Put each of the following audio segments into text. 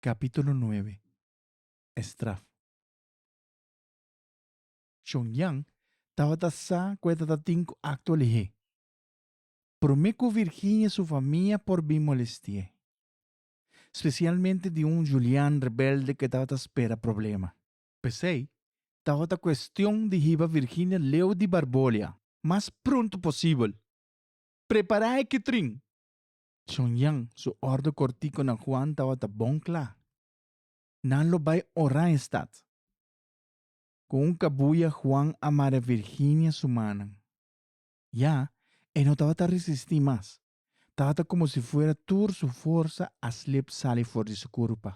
Capítulo nuebe E straf. Chon Jan tabata sa cu e tatatin cu acto alihé. Prome cu Virginia su famia por bin molestié. Specialmente di un Julian rebelde cu tabata spera problema. P'esey tabata cuestion di hiba Virginia leu di Barbolia. Mas pronto posibel. Prepara e kitrin! Chonyan, su orde kortiko na Juan tabata bon kla, Nan lo bai orá e stat. Ku un kabuya Juan a mara Virginia su manan. Ya, e no tabata resistí mas, tabata komo si fuera tur su forsa a slip sali for di su kurpa.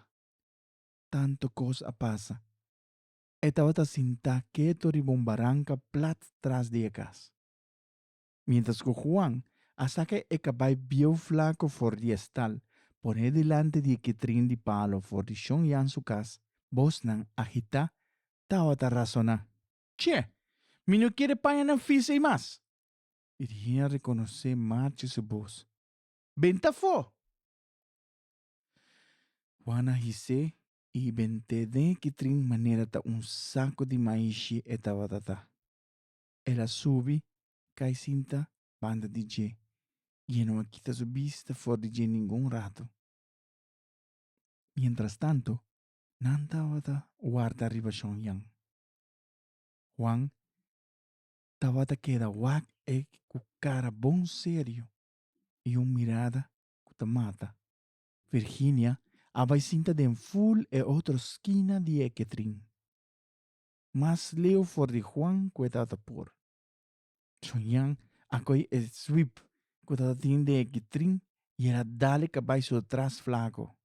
Tantu kos a pasa. E tabata sintá keto riba un baranka plat tras di e kas. mientras cu Juan a saca e cabai bieu flaco for di e stal, pon'é dilanti di e kitrin di palo for di Shon Yan su cas, bosnan a hitá tawata razoná. Che! Mi no kere paña nan fis ei mas! I di hende a reconocé marchi su bos. Ben ta afó! Juan a hisé i bent'é den e kitrin manera ta un saco di maishi e tawata ta. El a subi kai sinta banda di dje, i e no a kita su bista for di dje ningun ratu. Mientrastantu, nan tabata warda riba shon yan. Juan tabata keda wak e ku kara bon serio i un mirada ku ta mata. Virginia a bai sinta den ful e otro skina di e ketrin. Mas leu for di Juan cu e tata por. Soñan a coi e sweep cu tata tin den e kitrin y el a dale cabai su tras flaco.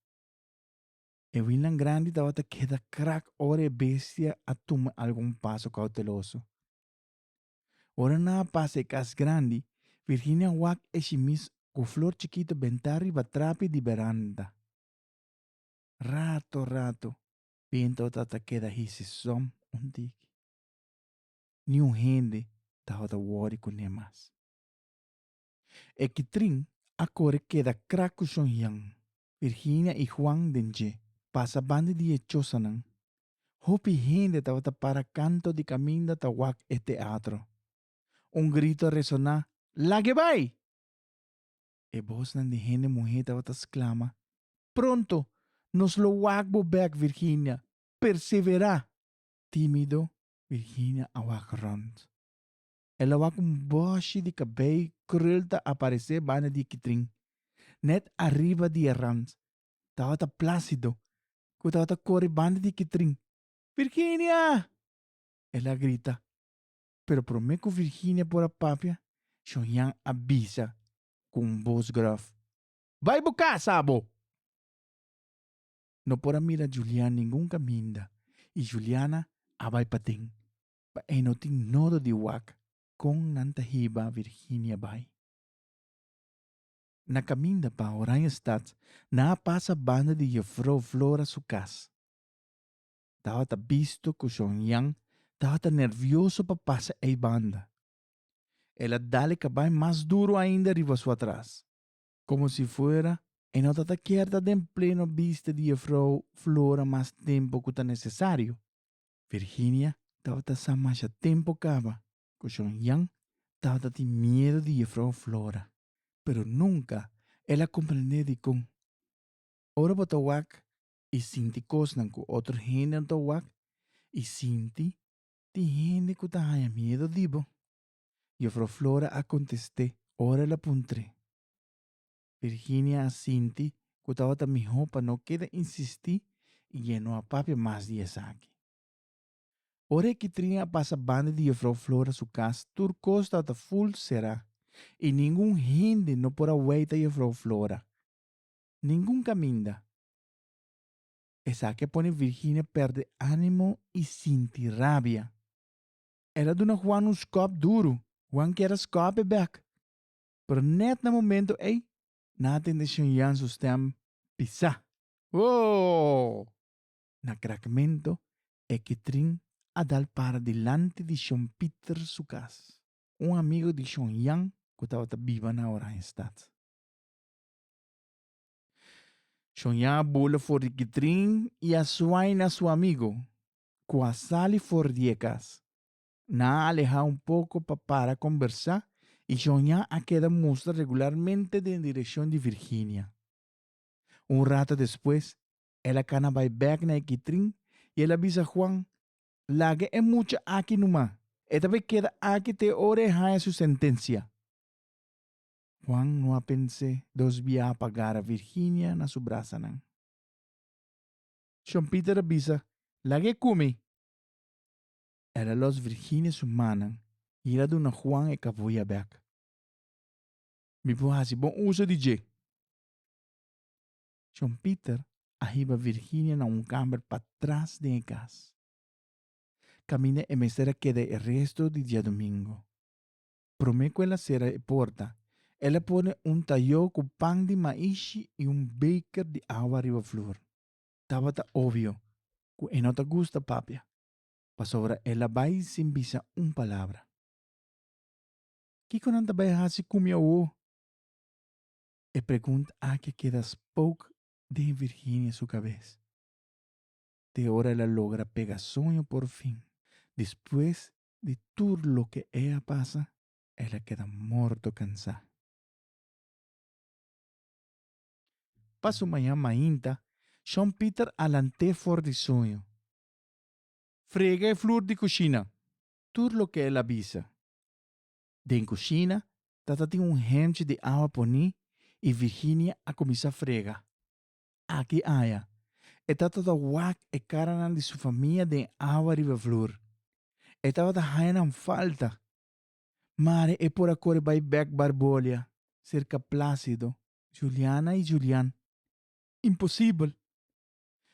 E winnan grandi tabata keda krak ora e bestia a tuma algun paso cauteloso. Ora nan a pasa e cas grandi, Virginia wak e shimis cu flor chikito benta riba trapi di beranda. Rato rato Pinto ta ta keda hisi som un tiki. Niun hende tabata wòri kuné mas. E kitrin a kore keda krak ku shon hian. Virginia i Juan den dje pasa banda di e chosanan. Hopi hende tabata para kanto di kaminda ta wak e teatro. Un grito resoná, Lagebai! E bosnan di hende muhé tabata sklama, Pronto nos lo wak bo bèk, Virginia! Perseverá! Tímido, Virginia a wak rònt. El a wak un bòshi di kabei krul ta aparesé banda di e kitrin, nèt ariba di e rònt. Tabata Plásido, ku tabata kore banda di e kitrin. Virginia! el a grita. pero promé ku Virginia por a papia, Shonyan a bisa ku un bos gròf, Bai bo kasa abo! No por a mira Julian ningun kaminda i Juliana a bai paten. Pa e no tin nodo di wak kon nan ta hiba Virginia bai. Na kaminda pa Oranjestad nan a pasa banda di Jefrouw Flora su kas. tabata bisto cu John Yan tabata nervioso pa pasa ey banda. El a dale cabai mas duro ainda riba su atras. Como si fuera e no ta ta kier ta den pleno bista di e vrouw Flora mas tempo cu ta necesario. Virginia tabata sa masha tempo caba cu John Yan tabata tin miedo di e vrouw Flora, pero nunca el a comprende dicon. Ora bo ta wak i sinti kosnan ku otro hendenan ta wak i sinti? Tin hende ku ta haña miedu di bo. Jufrou Flora a kontest'é ora el a puntr'é. Virginia a sinti ku tabata mihó pa no keda insistí i dje no a papia mas di esaki. Ora e kitrin a pasa banda di Jufrou Flora su kas tur kos tabata ful será i ningun hende no por a weita Jufrou Flora. ningun caminda. Esaki a pone Virginia perde animo y sinti rabia. El a duna Juan un scop duro. Juan kier a scop e bek. Pero net na momento ey nan a tende Shen Yan su stem pisa. Woow! Na crakmento e kitrin a dal para dilanti di Shon Pieter su cas, un amigo di Shon Yan cu tabata biba na Oranjestad. Shonja a bula for di kitrin i a suai na su amigu ku a sali for di e kas. Nan a alehá un poko pa para kombersá i Shonja a keda mustra regularmente den direkshon di Virginia. Un rata despues el a kana bai bèk na e kitrin i el a bisa Juan, Laga e mucha aki numa. E ta por keda aki te ora e haña su sentensia. Juan no a pens'é dos biaha pa gara Virginia na su brasanan. Shon Peter a bisa, Lag'é ku mi! El a lòs Virginia su mannan i el a duna Juan e kavuya bèk. Mi por hasi bon uso di dje! Shon Peter a hiba Virginia na un kamber patras den e kas. Kaminda e mester a keda e resto di diadumingu. Promé ku el a sera e porta, el a pone un tayó ku pan di maishi i un beker di awa riba flor. Tabata obio ku e no ta gusta papia, pasobra el a bai sin bisa un palabra. Kiko nan ta bai hasi ku mi awo? E pregunta aki a keda spook den Virginia su kabes, te ora el a logra pega soño porfin, despues di tur loke e a pasa, el a keda morto kansá. Pa su mañan mainta, Shon Pieter a lant'é for di suño. Frega e flur di kushina, tur loke el a bisa. Den kushina ta tatin un hemchi di awa poní i Virginia a kuminsá frega. Aki aya, e tabata wak e karanan di su famia den awa riba flur. E tabata haña nan falta. Mari e por a kore bai bèk Barbolia, serka Plácido, Juliana i Julian. Imposibel!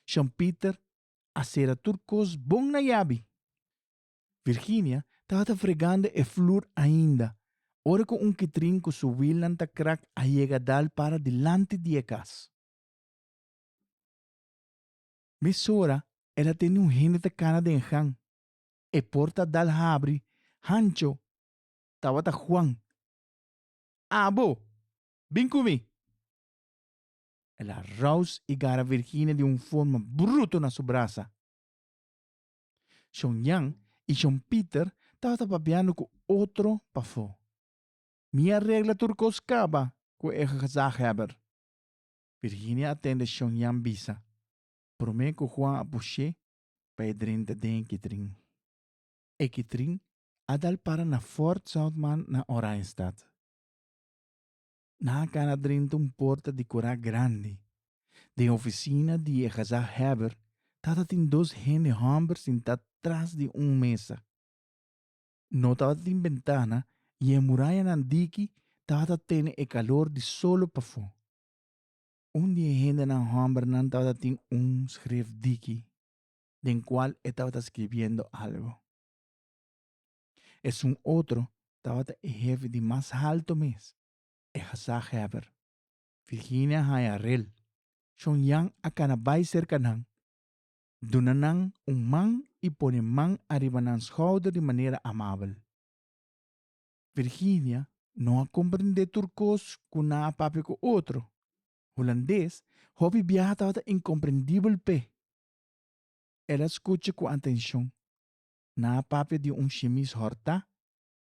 Shon Pieter a sera tur kos bon na yabi. Virginia tabata fregando e flur ainda, ora cu un kitrin cu su wielnan ta krak a yega dal para dilanti di e cas. Mesora el a tende un hende ta cana den gan. E porta a dal habri hancho, tabata Juan. Abo! Bin cu mi! El a raus y gara Virginia di un forma bruto na su brasa. Shon Jan i Shon Pieter tabata papiando ku otro pafó. Mi a regla tur kos kaba ku e gezaghèber. Virginia a tende Shon Jan bisa, Promé ku Juan a push'é pa e drenta den e kitrin. E kitrin a dal para na Fort Southman na Oranjestad. Nan a kana drenta un porta dekorá grandi. Den ofisina di e Gazá Hèber tabatin dos hende hòmber sintá tras di un mesa. No tabatin bentana i e murayanan diki tabata tene e kalor di solo pafó. Un di e hendenan hòmbernan tabatin un skref diki den kual e tabata skribiendo algu. Esun otro tabata e hefi di mas halto mes, e gezagheber. Virginia haya rel. Shon Yan a kana bai serka nan, duna nan un man i pone man ariba nan schouder di manera amabel. Virginia no a comprende tur cos cu nan a papia cu otro. Hulandes, hopi biaha tabata incomprendibel p'e. El a scucha cu atencion. nan a papia di un shimis hortá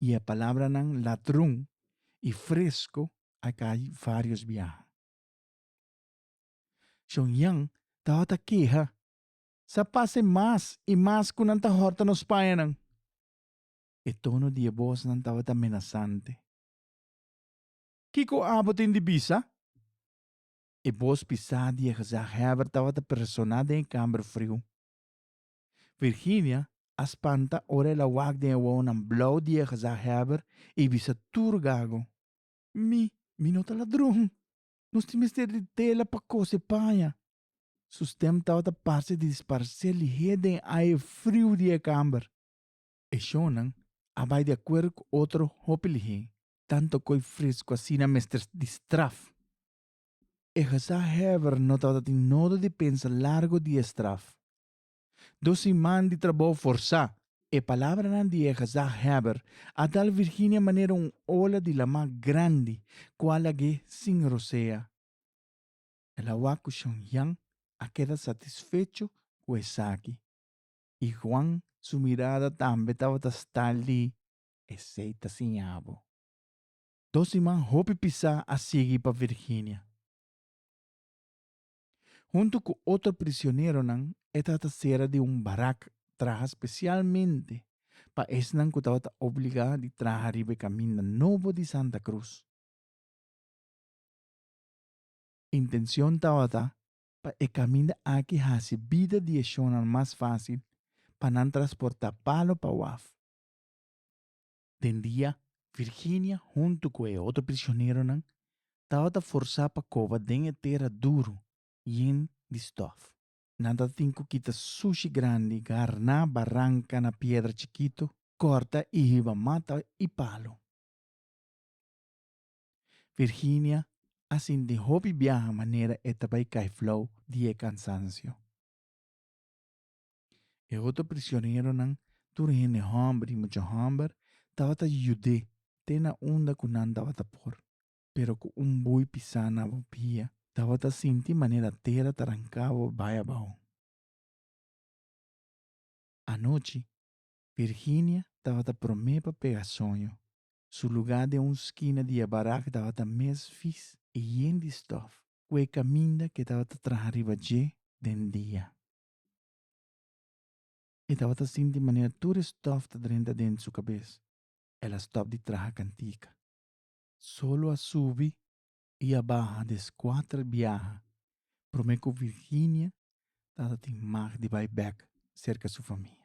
i e palabranan ladrun i fresku a kai vários biaha. Shon Yan tabata keha, Sa pase mas i mas ku nan ta horta nos payanan. E tono di e bosnan tabata menasante. Kiko abo tin di bisa? E bos pisá di e gezagheber tabata presoná den e kámber friu. Virginia a spanta ora el a wak den e wowonan blou di e gezagheber i bisa tur gago, Mi, mi no ta ladron! Nos tin mester di tela pa kos e paña! Su stem tabata parse di sparsé lihé den aye friu di e kamber. E shownan a bai di akuerdo ku otro hopi lihé, tantu ko'i fresku asina mester di straf. e gezaghèver no tabatatin nodo di pensa largu di e straf. Dos siman di trabou forsá, e palabranan di e gezaghèber a dal Virginia manera un ola di lamá grandi ku a lag'é sin rosea. El a wak ku Shon Yan a keda satisfecho ku esaki, i Juan su mirada tambe tabata sta li, Esei ta siña bo. Dos siman hopi pisá a sigui pa Virginia. Huntu ku otro prisioneronan e trata sera di un barak traha spesialmente pa esnan ku tabata obligá di traha riba e kaminda nobo di Santa Cruz. Intenshon tabata pa e kaminda aki hasi bida di e shonnan mas fásil pa nan trasportá palo pa waf. Den dia, Virginia huntu ku e otro prisioneronan tabata forsá pa koba den e tera duru yen di stòf. Nan tabatin ku kita sushi grandi, garná, baranka na piedra chikitu, kòrta i hiba mata i palu. Virginia a sinti hopi biaha manera e ta bai kai flou di e kansansio. E otro prisioneronan, tur hende homber i mucha homber, tabata yud'é te na unda ku nan tabata por. Pero ku un bui pisá na bo bia, tabata sinti manera tera ta ranká bo bai abou. Anochi, Virginia tabata promé pa pega soño. Su lugá den un skina di e barak tabata mes vis i yen di stòf ku e kaminda ku e tabata traha riba dje den dia. E tabata sinti manera tur e stof ta drenta dent su cabes. El a stop di traha cantica. Solo a subi y a baha des cuater biaha prome cu Virginia tata tin mag di bay bek cerca su famia.